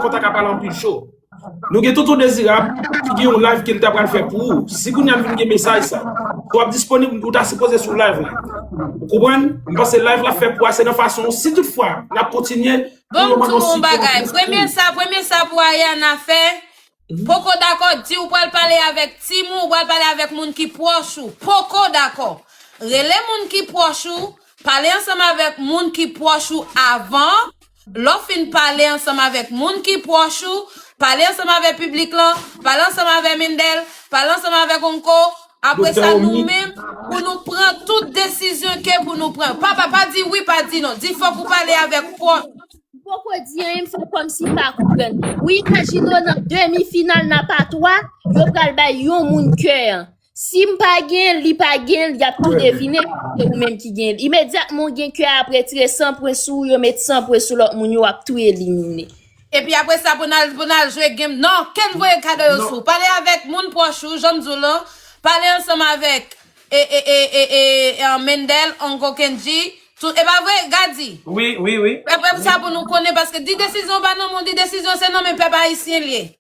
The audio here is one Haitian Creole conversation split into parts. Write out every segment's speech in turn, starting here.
kont a ka pale anpil cho. Nou gen Tonton Dezirab ki gen yon live ke li ta pral fè pou ou. Si kounye a m vin gen mesaj sa. Si w ap disponib, ou ta sipoze sou live la. Ou konprann? M panse live l ap fè pou ou a se nan fason si tout fwa l ap kontinye pou yo ban nou sipò pou l disponib. Bon m di w yon bagay. Premye sa, premye sa pou Ariana fè, poko dakò, di ou pral pale avèk team ou, ou pral pale avèk moun ki pwòch ou. Poko dakò. Rele moun ki pwòch ou, Pale ansanm avèk moun ki pwòch ou avan Lè w fin pale ansanm avèk moun ki pwòch ou, pale ansanm avè piblik lan, pale ansanm avè Mendel, pale ansanm avèk Onko, apre sa nou menm pou nou pran tout desizyon ke pou nou pran yo. Pa pa, pa di wi, pa di non. Di fòk ou pale avèk fòs. M poko di anyen m fè kòm si m pa konprann. Ou imajine w nan demi final nan pa 3, yo pral bay yon moun kè an. Si m pa gen l, li pa gen l, y ap tou devine ke se ou menm ki gen l. Imedyatman ou gen kè a ap retire san pwen sou ou, yo met san pwen sou lòt moun yo, w ap tou elimine. Epi apre sa pou n al pou n al jwe game non, Ken voye kado yo sou w. Pale avèk moun pwòch ou, jan m di w lan, pale ansanm avèk e e e e e e Mendel, Ongo Kendji, tout e pa vre Gady? Wi, wi, wi. Epi apre sa pou nou konnen paske di desizyon pa nan men w, di desizyon se nan men pèp ayisyen l ye.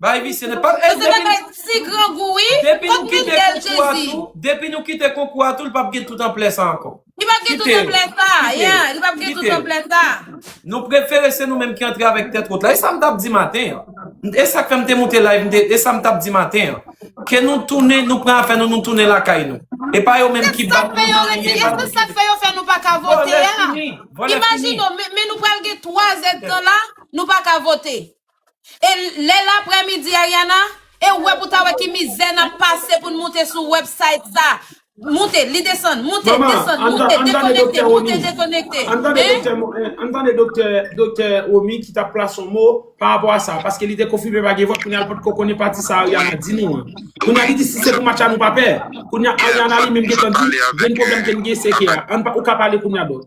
Bay visye nèt. Pap e depi nou Ti grangou wi. Depi nou kite konkou a tou, depi nou kite konkou a tou li pap gen tout anplè sa ankò. Li pap gen tout anplè sa, yeah, li pap gen tout anplè sa. Nou prefere se nou menm ki antre avèk tèt wot la. E sa m tap di maten an. E sak fè m te moute live m te, e sa m tap di maten an. Ke nou tounen, nou pran afè nou, nou tounen lakay nou. E pa yo menm ki bat nou nan anyen, e pa nou ki. E se sak fè yo fè nou pa ka vote a. Vòlè fini, vòlè fini. Imajine w, men nou pral gen 3 èd tan la, nou pa ka vote. E lè laprè midi Ariana, e ou wè pou ta wè ki mizè nap pase poun moute sou website sa. Moute, li desann, moute, Manman, desann, ann moute, ann tande dekonekte, Doktè Romy. moute, dekonekte. Ann tande Hein? Doktè Mo- eh, ann tande Doktè Doktè Romy ki tap plas on mo pa rapò a sa, paske li te konfime pa gen vòt, kounya l potko konnen pati sa Ariana di nou an. Kounya li di si se pou match a nou pa pè. Kounya Ariana li menm gentan di, gen pwoblèm ke n gen se ke a. Ann pa, ou ka pale kounya Dòk.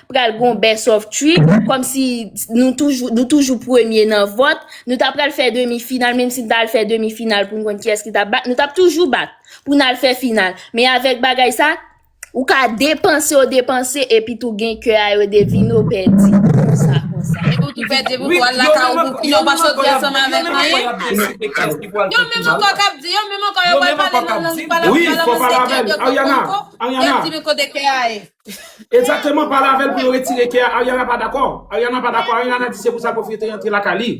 pral gon best of 3 kom si nou toujou nou toujou premye nan vòt nou ta pral fè demi final menm si nou ta al fè demi final pou nou konn kiyès ki ta bat nou tap toujou bat pou nou al fè final men avèk bagay sa ou ka depanse ou depanse epi tou gen kè a yo devine ou pèdi konsa konsa epi ou tou pèdi epi ou tou al la ka ou pou yo pa soti ansanm avèk anyen yo menm ankò kap di yo menm ankò yo pral pale nan lang yo pa la menm lang yo se kè yo tou konko yap di men kote kè a ye. Exactement pale avèl pou yo retire kè a Ariana pa dakò Ariana pa dakò Ariana di se pou sa Koffi te rantre lakay li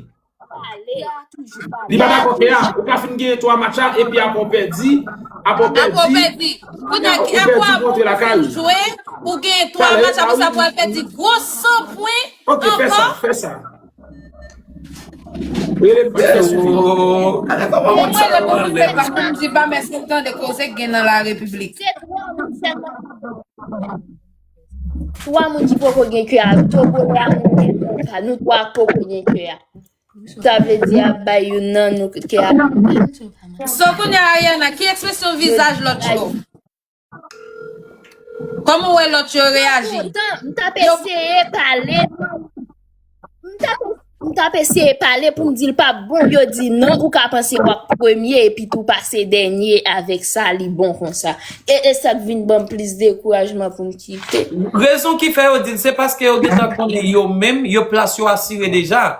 Li pa dakò kè a ou ka fin genyen 3 match a epi aprè ou pèdi aprè ou pèdi aprè ou pèdi kounye kè a pou aprè ou fin fin jwe ou genyen 3 match aprè sa pou al pèdi gwo 100 pwen ankò ok fè sa fè sa. Rele m Pastè Soufi. Mwen mwen le pou koute pa koum di pa mè sou tande koze k gen nan la repiblik. Se 3 moun selman ki poko gen kè avèk mwen. 3 moun ki poko gen kè avèk togolè a mwen menm konsa nou 3 k poko gen kè a sa vle di a bay youn nan nou kè a. So kounya Ariana ki ekspresyon vizaj lòt yo? Koman ou wè lòt yo reyaji? Poutan, m t ap eseye pale, m t ap, m t ap eseye pale pou m di l pa p bon, yo di non ou ka panse w ap premye epi tou pase dènye avèk sa li bon konsa. E e sa k vin ban m plis dekourajman pou m kite. Rezon ki fè yo di l se paske yo gentan konnen yo menm, yo plas yo asire deja.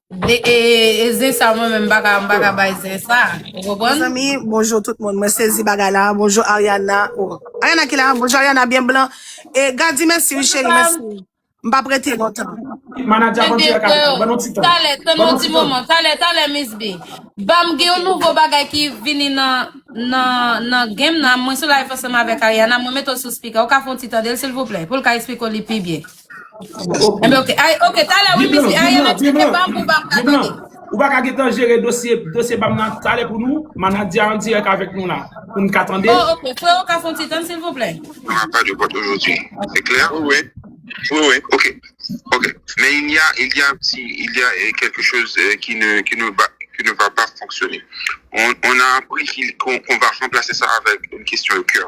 De e e zen sa mwen menm baka m baka bay zen sa. Ou konprann? Mezanmi, bonjour tout moun. Mwen sezi bagay la. Bonjour Ariana. Oh. Ariana ki la? Bonjour Ariana, bien blanc. E Gadi, merci oui chérie, merci. M pa prete lontan. Manager Ebyen Aventura Capital, freo, ban nou ti tan. talè, tann Ban yon nou ti ti tan. moman, talè, talè Miss B. Banm gen yon nouvo bagay ki vini nan nan nan game nan, mwen sou live ansanm avèk Ariana, mwen mete w sou speaker, ou ka fè yon ti tande l silvouplè, pou l ka esplike w li pi byen. Enben ok, ay, ok, talè wi Viv lan, mesi, viv Ariel lan, viv eksplike lan, pam pou pam ka viv lan. tande. Ou pa ka getan jere dosye, dosye pam nan talè pou nou, manadya an dirèk avèk nou la, pou nou ka tande. Oh ok, freo ka fon ti tann silvouplè? Ah, pas de vote aujourd'hui. C'est clair? Oui, oui. Oui, oui. Ok. Ok. Mais il y a, il y a un petit, il y a euh, quelque chose euh, qui ne, qui ne va, qui ne va pas fonctionner. On, on a appris qu'il- qu'on qu'on va remplacer ça avec une question de cœur.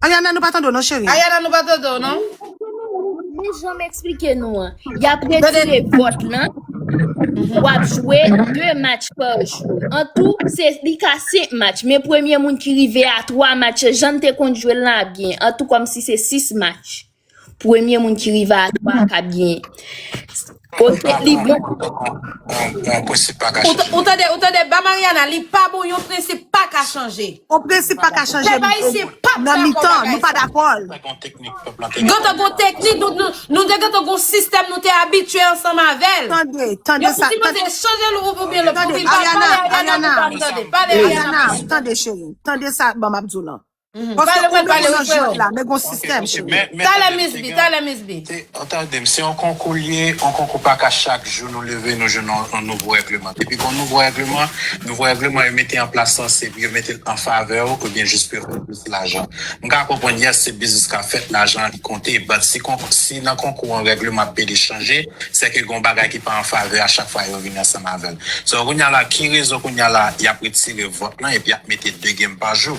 Ayana nou pa tande w non cheri. Ayana nou pa tande w non. Ok men wood men janm esplike nou an yap Tande. retire vòt lan wap jwe 2 match pa jou an tou se li ka 5 match men premye moun ki rive a 3 match jann te konn jwel lan ap gen an tou kòmsi se 6 match Premye moun ki rive a 3 k ap genyen. Ok li bon. On prensip pa ka chanje. Ou tande ou tande ba Mariana li pa bon yon prensip pa ka chanje. On prensip pa ka chanje. Pèp ayisyen pap dakò bagay sa. Nan mitan nou pa dakò l. Gen yon teknik pèp lan te gen. Gen te gen yon teknik nou te gen te gen yon sistèm nou te abitye ansanm avè l. Tande tande sa. Yo sipoze chanje l oubyen l. Tande Ariana Ariana. Pale Ariana. Tande cheri. Tande sa banm ap di w lan. Paske ou menm ou nan jwèt la, men gon sistèm cheri. Talè miss bi, talè miss bi. An tandem se yon konkou li ye yon konkou paka chak jou nou leve nou jwenn yon nouvo règleman depi gon nouvo règleman nouvo règleman yo mete anplas lan se pou yo metel anfavè ou oubyen jis pou yo fè plis lajan m ka konprann yes se biznis kap fèt lajan an li konte but si konkou si nan konkou an règleman ap pede chanje sèke gon bagay ki pa anfavè a chak fwa yo vini ansanm avèl so kounya la ki rezon kounya la yap retire vòt lan epi yap mete 2 gem pa jou.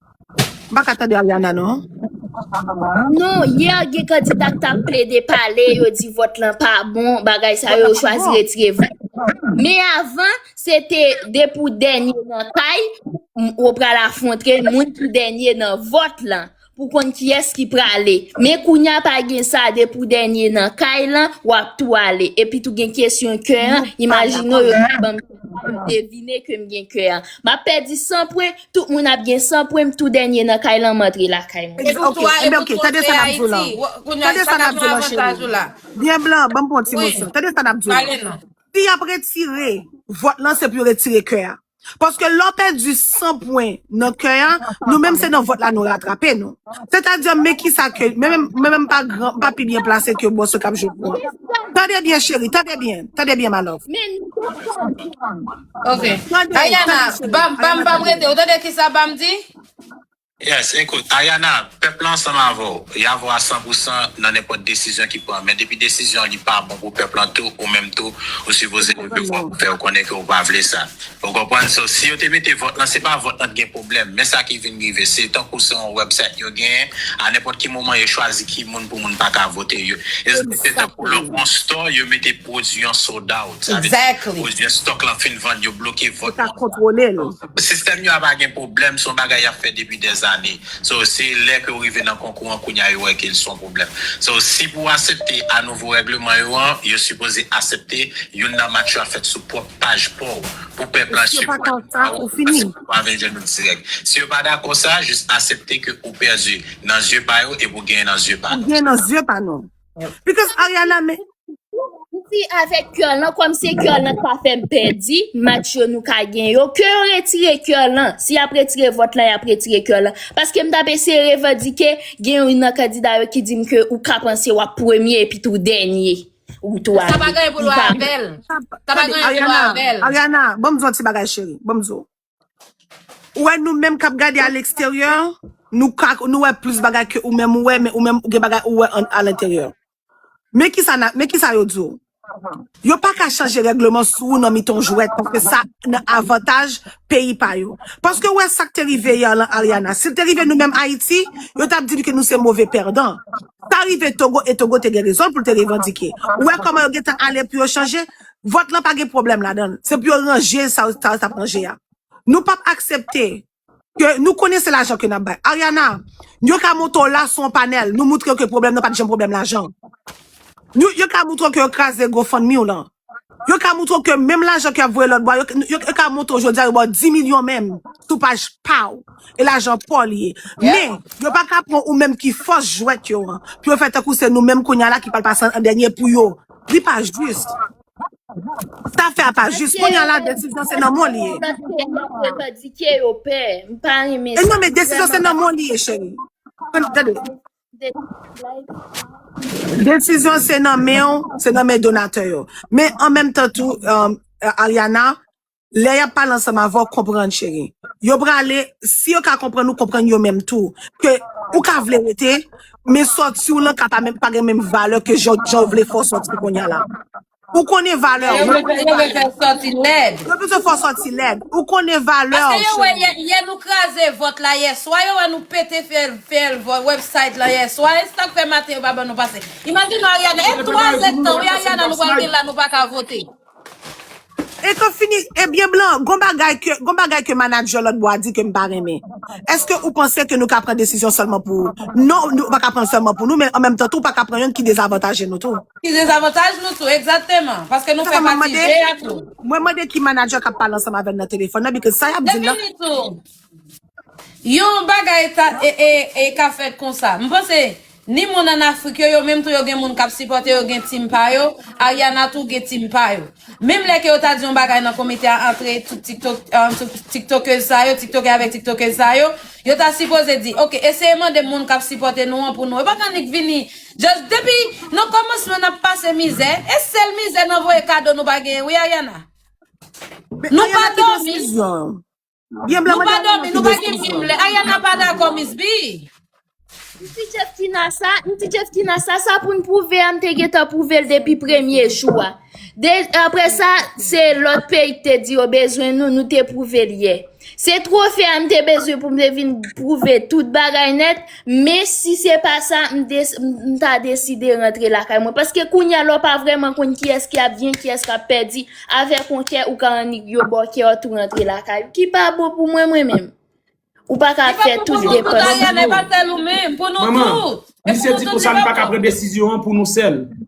M pa ka tande Ariana non. Non, yè gen kandida k t ap plede pale, yo di vòt lan pa bon, bagay sa Vòt yo, la yo pa chwazi bon. retire vòt. Me avan, se te depi w dènye nan kay, m- ou pral afwontre moun ki dènye nan vòt lan pou konn kiyès ki prale. Men kounya pa gen sa, depi w dènye nan kay lan, w ap tou ale. Epi tou gen kesyon kè an, Nou pa imajine w dakò. yo ta ban m kè sa, yo devine ke m gen kè an. M ap pèdi 100 pwen, Tout moun ap gen san pwen m tou dènye nan kay lan m antre lakay mwen. Epi ok, enben ok, tande sa nap di w lan, tande sa nap di w lan cheri m. Byen blan, banm pran yon ti moso, tande sa nap di w lan. Si yap retire vòt lan se pou yo retire kè a. Paske lè w pèdi san pwen nan kè a, nou menm se nan vòt la nou ratrape nou. Sètadi men kisa ke, men menm, men menm m pa gran, m pa pi byen plase ke moso kap jwe pou an. Tande byen cheri, tande byen, tande byen ma love. Men nou konprann. Ok. Tande, Ayana, tande cheri, bam, bam, Ayana bam tande. rete. Ou tande ki sa bam di? Yes, ekout, Ayana, pèp lan ansanm avè w. Y avè w a san pou san nan nenpòt desizyon ki pran. Men depi desizyon an li pa bon pou pèp lan tou, ou menm tou, ou Ou sipoze konprann leve vwa mwen. pou fè yo konnen ke ou pa vle sa. Ou konprann? So, si yo te mete vòt lan, se pa vòt lan t gen pwoblèm. Men sa ki vin rive, se tankou se yon website yo genyen, a nenpòt ki moman yo chwazi ki moun pou moun pa ka vote. Yo, yo se tankou lò Exactement. pou yon store, yo mete pwodui yon sold out, sa vle di pwodui estòk lan fin vann, yo bloke vòt moun sa. Sistèm yo a pa gen pwoblèm, se yon bagay y ap fè depi dèzane. So, se lè ke yo rive nan konkou an kounye a yo wè ke li se yon pwoblèm. So, si pou asepte a nouvo règleman yo an, yo sipoze asepte youn nan match yo a fèt sou pwòp paj pa w, pou pè blanchi pwent pa w, paske ou pa vle jwenn nou dirèk. Si yo pa dakò sa, jis asepte ke ou pèdi nan zye pa yo epi ou genyen nan zye pa nou. Because Ariana men, Di avèk kè lan kòm se kè lan k pa fè m pèdi match yo nou ka gen yo ke yo retire kè lan si y ap retire vòt lan y ap retire kè lan paske m t ap eseye revandike gen youn nan kandida yo ki di m ke ou ka panse w ap premye epitou ou dènye ou tou Sa pa ale gen pou l wè avè l. Sa pa tande gen pou l wè Ariana, avè l. Ariana, banm di w yon ti bagay cheri, banm di w. Ou wè nou menm kap gade a leksteryè, nou ka nou wè plis bagay ke ou menm ou wè, men ou menm ou gen bagay ou wè an alenteryè. Men kisa na, men kisa yo di w? Yo pa ka chanje règleman sou ou nan mitan yon jwèt paske sa nan avantaj peyi pa yo. Paske ou wè sak te rive yè lan Ariana, si l te rive nou menm Ayiti, yo tap di n ke nou se move pèdan. Sa rive Togo e Togo te gen rezon l pou l te revandike. Ou wè kòman yo gentan ale pou yo chanje? Vòt lan pa gen pwoblèm ladan l. Se pou yo ranje sa yo ta ap ranje a. Nou pap aksepte ke nou konnen se lajan ke n ap bay. Ariana, yo ka monte w la sou yon panèl, nou moutre yo ke pwoblèm nan pa t janm pwoblèm lajan. Nou, yo ka moutre w ke yo kraze GoFundMe w lan. Yo ka moutre w ke menm lajan ke y ap voye lòt bò a, yo, yo, yo ka montre w jodi a yo ba w 10 milyon menm sou paj pa w, e lajan pa w li ye. Men, Yep. yo pa ka pran ou menm ki fòs jwèt yo an, pou yo fè tankou se nou menm kounye a la ki pral pase an dènye pou yo. Li pa jis. Sa fè a pa jis. Kounye a la desizyon se nan mwen li ye. E non men desizyon se nan mwen li ye cheri. Desizyon se nan men ou, se nan men donatè yo. Men an menm tan tou Ariana. Lè yap pale ansanm avè w konprann cheri. Yo prale, si yo ka konprann ou konprann yo menm tou. Ke ou ka vle rete, men sòti w lan ka pa menm pa gen menm valè ke jan jan w vle fè w sòti kounye a la. Ou konnen valè w, mwen konnen valè m. Yo bezwen fè w sòti lèd. Ou konnen valè w cheri. Etan fini, ebyen blan, gon bagay ke, gon bagay ke manager lòt bò a di ke m pa renmen. Eske ou panse ke nou ka pran desizyon sèlman pou ou? Non, nou pa ka pran l sèlman pou nou, men an menm tan tou ou pa ka pran yonn ki dezavantaje nou tou. Ki dezavantaj nou tou, egzakteman, paske nou fè pati je a tou. Mwen mande ki manager kap pale ansanm avè l nan telefòn nan because sa yap di l lan. Depini tou, Yon bagay ta e ka fèt konsa. M panse ni moun an Afrik yo, yo menm tou yo gen moun kap sipòte yo gen team pa yo, Ariana tou gen team pa yo. Menm lè ke yo ta di yon bagay nan komite a antre tout tiktokez sa yo, tiktokè avèk tiktokez sa yo, yo ta sipoze di ok eseye mande moun kap sipòte nou an pou nou. Yo paka annik vini just depi nan kòmansman nap pase mizè, e sèl mizè nan voye kado nou pa genyen wi Ariana. Nou pa dòmi. Gen blan Nou pa manda nan nan domi, nou pa gen menm lè. Ariana pa dakò Miss B. Yon ti jèf tina sa, yon ti jèf tina sa, sa pou n pwouve a m te gentan pwouve l depi premye jou a. De, apre sa, se lòt peyi k te di yo bezwen nou, nou te pwouve l yè. Se twofe a m te bezwen pou m te vin pwouve tout bagay nèt, Men si se pa sa, m ta deside rantre lakay mwen. Paske kounye a la w pa vrèman konn kiyès ki ap byen, kiyès k ap pèdi. Avèk yon kè, ou ka annik yo ba w kè a tou rantre lakay ou. Ki pa bon pou mwen mwen menm. Ou pa ka fè tout depans. Manman, misye di konsa li pa ka pran desizyon an pou nou sèl.